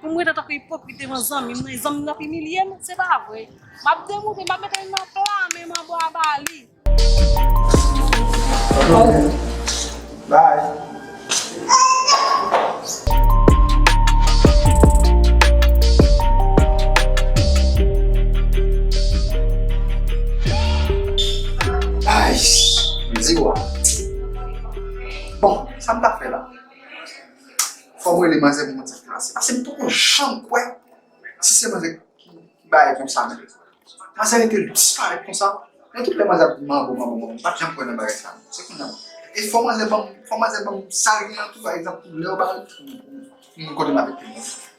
Pou m rete tankou ipokrit devan zanmi mwen, zanmi mwen ap imilye m, se pa vre. M ap demoute, m ap mete l nan pla men m anba ba li. Bon, sa m ta fè la? Fòm rele manzè pou moun sa ki ranse paske m poko janm kwè si se manzè ki bay konsa nan. Manzè rete li disparèt konsa nan tout lè manzè ap di manbo manbo manbo m pat janm kwè nan bagay sa se kounya e fò manzè banm fò manzè banm sa l gen an tou pa egzanp lè yo ba l pou moun kote m abitel.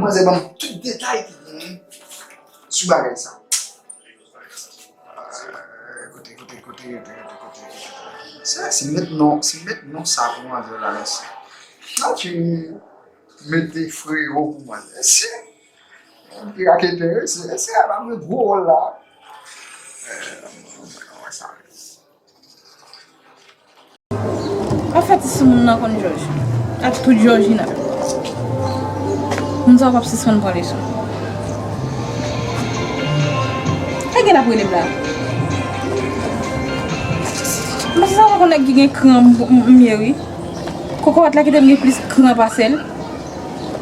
Manzè banm tout detay ki genyen sou bagay sa. Kote kote kote kote kote. Sa si met non, si met non sa pou manzè la mèsi. Nan ti mete freo pou manzè. Se ki raketè se se a la mwen gwo wòl la. Mwen sa. Pa fè ti soumoun nan konn jòj. Ak tout jòjina. Moun sa yo pap sispann pran leson. Nèg gen ap rele m la. M pa sispann wè konn nèg ki gen kran m ye wi. Kokorat la kite m gen plis kran pase l.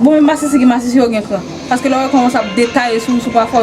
Bon men masisi gen masisi yo gen kran. Paske lè w wè kòman sa ap detaye sou ou sou pafwa.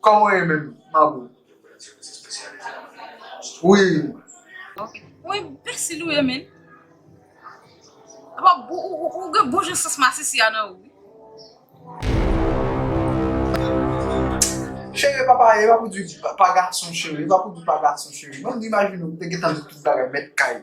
Koman ye menm mabou wi. Ok ou enbesil ou ye menn. Epa ou gen bon jan sans masisi a nan ou wi. Chere papa epa pou di pa gason chere epa pou di pa gason chere mwen imajine ou te gentan di tout bagay met kay.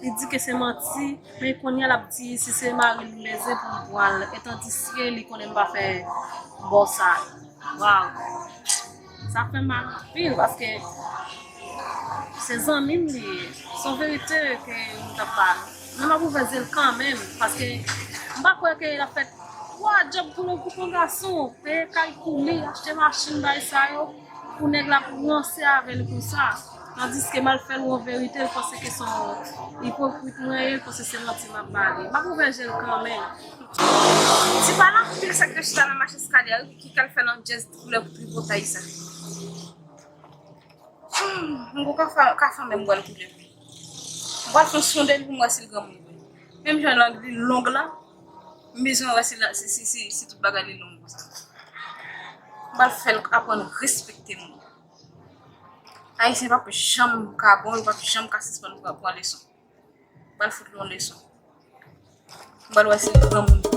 Li di ke se manti, men kounye a l ap di si se mari l le zen pou l pwal e tandiske li konnen m pa fè bò sa. Waw. Sa fè mal anpil paske se zanmi m li ye. Se yon verite ke m t ap ba l. Men m ap ouvè zye l kanmenm paske m pa kwè ke l ap fè twa djòb pou yon gason, peye kay pou li, achte machin, bay sa yo. Pou nèg la ap ranse avè li konsa tandiske m al fè l yon verite l panse ke son ipokrit mwen ye l panse se manti m ap ba li. M ap ouvè je l kanmenm. Ti pale anpil sak te chita nan mache skadè a kiki kal fè nan djèz koulè pou tripotay sa humm m poko ka fanmen m bwèl koulè m pral fon sondel pou m wè sil granmoun vre menm jan lang li long la M bezwen wè si la si si si si tout bagay li long konsa. M pral fè l aprann respekte moun. Ayisyen pap janm ka bon, yo pap janm ka sispann pran pran leson. M pral fout l yon leson. M pral wè si l granmoun.